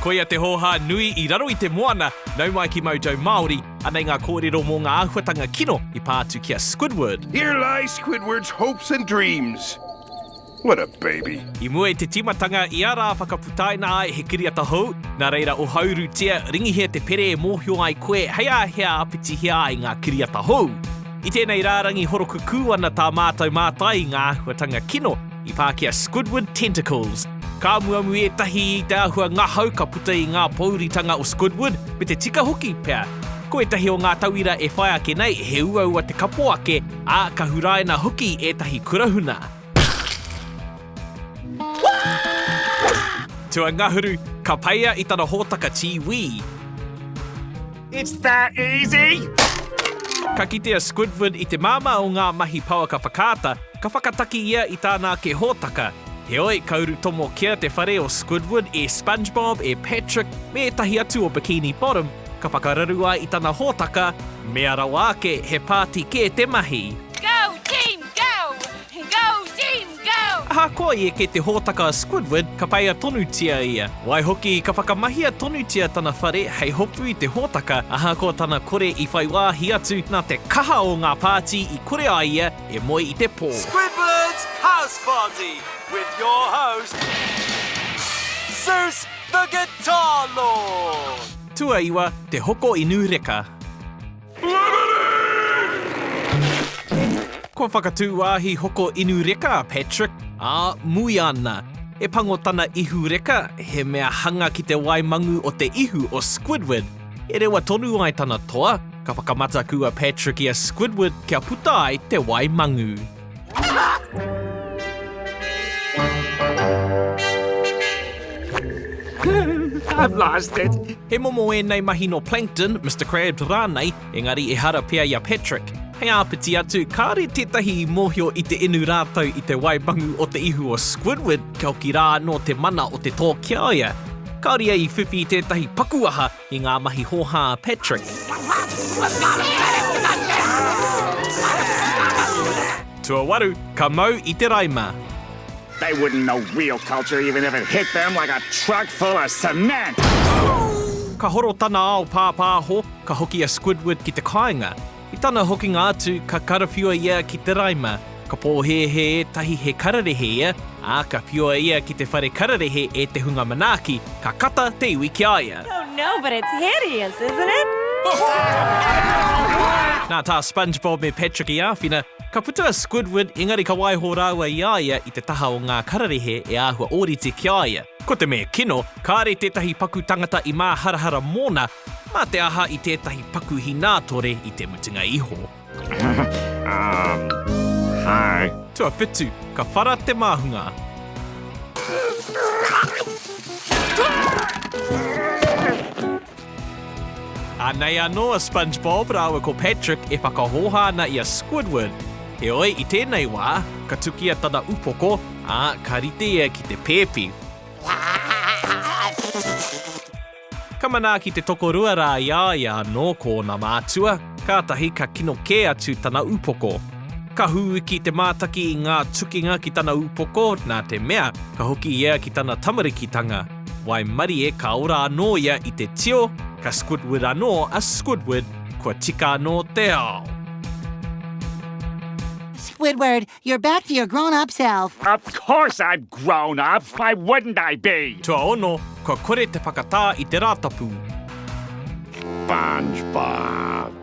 Koia te hōhā nui i raro i te moana, nau mai ki Mojo Māori, anei ngā kōrero mō ngā āhuatanga kino i pā atu ki a Squidward. Here lie Squidward's hopes and dreams. What a baby. I mua i te tīmatanga, i a rā whakaputaina ai he kiriata hou, nā reira ohaurutia, ringihia te pere e mōhio ai koe hei āhea āpitihia ai ngā kiriata hou. I tēnei rārangi horokukū ana tā mātou mātai i ngā āhuatanga kino, I pā ki a Squidward Tentacles. Ka amuamu ētahi i te āhua ngahau ka puta i ngā pōuritanga o Squidward, me te tika hoki pea. Ko ētahi o ngā tauira e whai ake nei, he uaua te kapo ake, ā, ka huraina hoki ētahi kurahuna. Tuangahuru, ka peia i tana hōtaka tī wī. It's that easy! Ka kite a Squidward i te māmā o ngā mahi pouaka whakaata, ka whakataki ia i tāna ake hōtaka. Heoi, ka uru tomo kia te whare o Squidward e Spongebob, e Patrick, me ētahi atu o Bikini Bottom, ka whakararu ai i tana hōtaka, mea rawa ake he pāti kē te mahi. Go team go! Go team Ahakoa i eke te hōtaka a Squidward, ka peia tonutia ia. Waihoki, ka whakamahia tonutia tana whare hei hopu i te hōtaka, ahakoa tana kore i whai wāhi atu, nā te kaha o ngā pāti i kore ai ia e moe i te pō. Squidward's House Party with your host, Zeus the Guitar Lord! Tuaiwa, Te Hoko Inu Reka. Kua whakatū wāhi hoko inu reka a Patrick, ā, mui ana. E pango tana ihu reka, he mea hanga ki te wai mangu o te ihu o Squidward. E rewa tonu ai tana toa, ka whakamataku a Patrick i a Squidward kia puta ai te wai mangu. I've lost it. He momo ēnei mahi nō Plankton, Mr Krabs rānei, engari ehara pea i a Patrick. Hei āpiti atu, kāore tētahi i mōhio i te inu rātou i te waimangu o te ihu o Squidward, kia hoki rā anō te mana o te tō ki a ia. Kāore ia i whiwhi i tētahi paku aha, i ngā mahi hōhā a Patrick. Tuawaru, ka mau i te raima. They wouldn't know real culture even if it hit them like a truck full of cement! Ka horo tana ao pāpāho, ka hoki a Squidward ki te kāinga. I tana hokinga atu, ka karawhiua ia ki te raima. Ka pōhēhē ētahi he kararehe ia, ā, ka whiua ia ki te whare kararehe e te hunga manaaki, ka kata te iwi ki a ia. Oh no, but it's hideous, isn't it? Nā tā Spongebob me Patrick i āwhina, ka puta a Squidward engari ka waiho rāua i a ia i te taha o ngā kararehe e āhua ōrite ki a ia. Ko te mea kino, kāre tētahi paku tangata i māharahara mōna, Mā te aha i tētahi paku hinātore i te mutunga iho? Hi. Tuawhitu, ka whara te māhunga. Anei anō a Spongebob rāua ko Patrick e whakahōhā ana i a Squidward. Heoi, i tēnei wā, ka tukia tana upoko, ā, ka rite ia ki te pēpi. Ka manaaki te tokorua rā i a ia anō ko ōna mātua, kātahi ka kino kē atu tana upoko. Ka hūiki te mātaki i ngā tukinga ki tana upoko, nā te mea, ka hoki ia ki tana tamarikitanga. Waimarie ka ora anō ia i te tio, ka Squidward anō a Squidward, kua tika anō te ao. Squidward, You're back to your grown up self. Of course I'm grown up, why wouldn't I be? Tuaono, kua kore te whakatā i te Rātapu. Spongebob.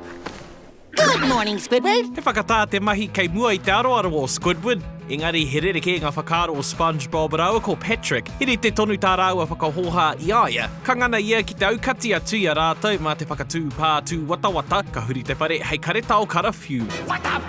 Good morning, Squidward! He whakatā te mahi kei mua i te aroaro o Squidward. Engari, he rerekē ngā whakaaro o Spongebob rāua ko Patrick. He rite tonu tā rāua whakahōhā i a ia. Ka ngana ia ki te aukati atu i a rātou mā te whakatū pā tūwatawata, ka huri te whare hei karetao karawhiu. What the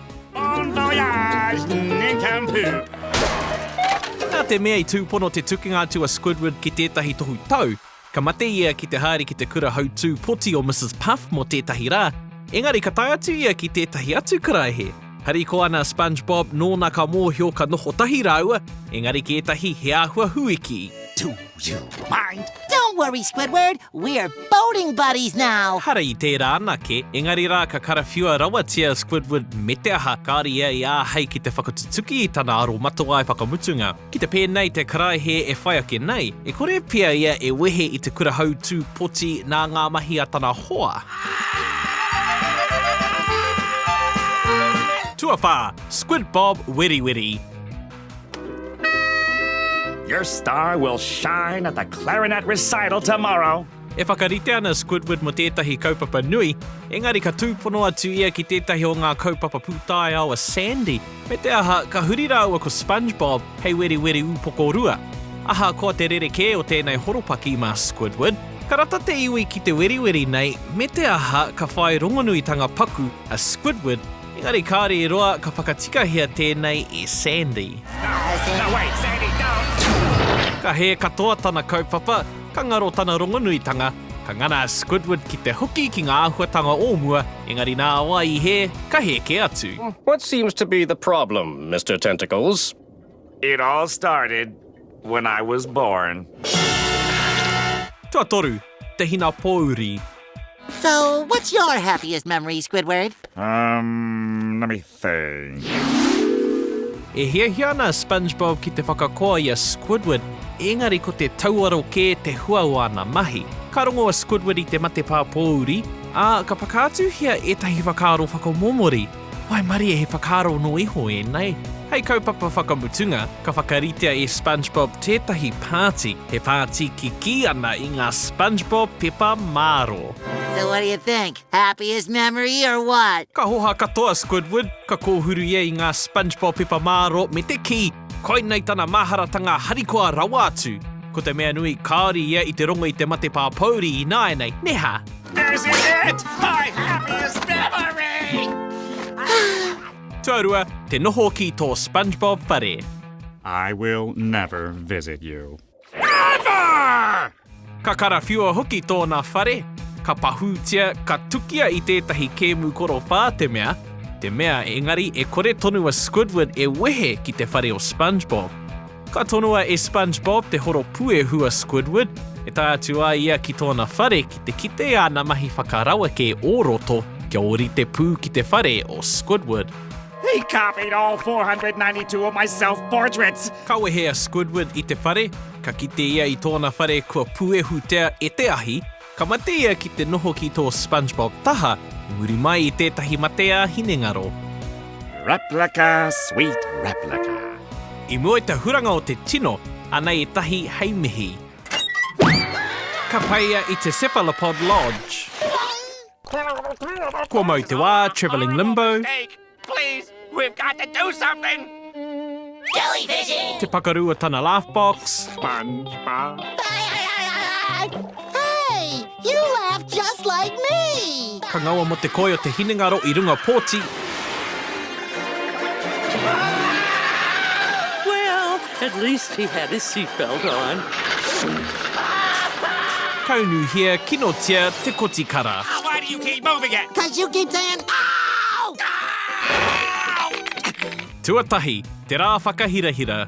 Bon voyage, Ninkampū! Nā te mea i tūpono te tukinga atu a Squidward ki tētahi tohu tau, ka mate ia ki te haere ki te kura hautū poti o Mrs Puff mō tētahi rā, engari ka tae atu ia ki tētahi atu karaehe. Harikoa ana a Spongebob nōna ka mōhio ka noho tahi rāua, engari ki ētahi he āhua huiki. You'll find. Don't worry, Squidward, we're boating buddies now! Hara i tērā anake, engari rā ka karawhiua rawatia a Squidward me te aha, kāore ia i āhei ki te whakatutuki i tana aromatawai whakamutunga. Ki te pēnei te karaehe e whai ake nei, e kore pea ia e wehe i te kura hautū poti nā ngā mahi a tana hoa. Tuawhā, Squid Bob Weriweri. Your star will shine at the clarinet recital tomorrow. E whakarite ana Squidward mō tētahi kaupapa nui, engari ka tūpono atu ia ki tētahi o ngā kaupapa pūtaiao a Sandy, me te aha, ka huri rāua ko Spongebob hei weriweri upoko rua. Ahakoa te rerekē o tēnei horopaki mā Squidward, ka rata te iwi ki te weriweri nei, me te aha, ka whai rongonuitanga paku a Squidward Engari kāore i roa ka whakatikahia tēnei i Sandy. No way, Sandy, don't! Ka hē katoa tana kaupapa, ka ngaro tana rongonuitanga, ka ngana a Squidward ki te hoki ki ngā āhuatanga o mua, engari nā wai i hē, ka hē kē atu. What seems to be the problem, Mister Tentacles? It all started when I was born. Tuatoru, te hina pōuri. So, what's your happiest memory, Squidward? Um, let me think. E hiahia ana Spongebob ki te whakakoa i a Squidward, ēngari ko te tauaro kē te hua o ana mahi. Ka rongo a Squidward i te matepā pōuri, ā, ka whakaatuhia ētahi whakaaro whakamomori. Waimarie, he whakaaro nō iho ēnei. Hei kaupapa whakamutunga, ka whakaritea e Spongebob tētahi pāti, he pāti kikī ana i ngā Spongebob pepa māro. So what do you think? Happiest memory or what? Ka hoha katoa Squidward, ka kōhuru ia i ngā Spongebob pepa māro me te kī, Koinei tana maharatanga harikoa rawa atu, ko te mea nui kāore ia i te rongo i te mate pāpōuri ināianei, nē hā? This is it! My happiest memory! Tuarua, te noho ki tō Spongebob whare. I will never visit you. Ever! Ka karawhiua hoki tōna whare, ka pahūtia, ka tukia i tētahi kēmu korowha te mea, te mea engari e kore tonu a Squidward e wehe ki te whare o Spongebob. Ka tonoa e Spongebob te horo puehu a Squidward, e tae atu ai ia ki tōna whare ki te kite i āna mahi whakaraweke o roto kia ōrite pū ki te whare o Squidward. He copied all 492 of my self-portraits! Ka wehe a Squidward i te whare, ka kite ia i tōna whare kua puehutea e te ahi, ka mate ia ki te noho ki tō Spongebob taha i muri mai i tētahi matea hinengaro. Replica, sweet replica. I mua i te huranga o te tino, anei ētahi hei mihi. Ka pai ia i te Cephalopod Lodge. Kua mau te wā, travelling limbo. Te pakaru o tana laugh box. Ka ngaua mo te koi o te hinengaro i runga pōti. At least he had his seatbelt on. Kaunuhia, kinotia te kotikara. Why do you keep moving it? Cause you keep saying no! Tuatahi, te rā whakahirahira.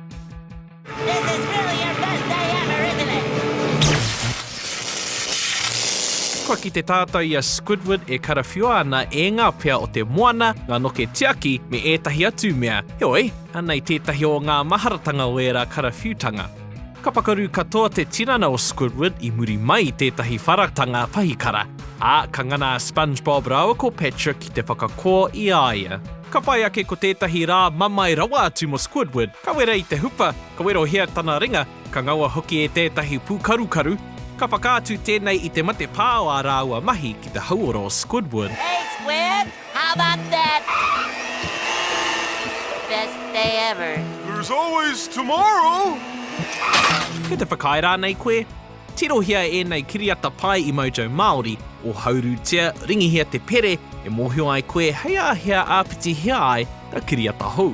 This is really your best day ever, isn't it? Kua kite tātou i a Squidward e karawhiua ana e ngā pea o te moana, ngā noke tiaki, me ētahi atu mea. Heoi, Anei tētahi o ngā maharatanga o ērā karawhiutanga. Ka pakaru katoa te tinana o Squidward i muri mai i tētahi wharatanga pahikara, ā, ka ngana a Spongebob rāua ko Patrick ki te whakakō i a ia. Ka whai ake ko tētahi rā mamae rawa atu mō Squidward, ka wera i te hupa, ka werohia tana ringa, ka ngaua hoki e tētahi pūkarukaru. Ka whakaatu tēnei i te matepā o ā rāua mahi ki te hauora o Squidward. Hey, Squid! How about that? Best day ever. There's always tomorrow! Kei te whakaae rānei koe? Tirohia ēnei kiriata pae i Mojo Māori, ohaurutia, ringihia te pere e mōhio ai koe hei āhea āpitihia ai ngā kiriata hou.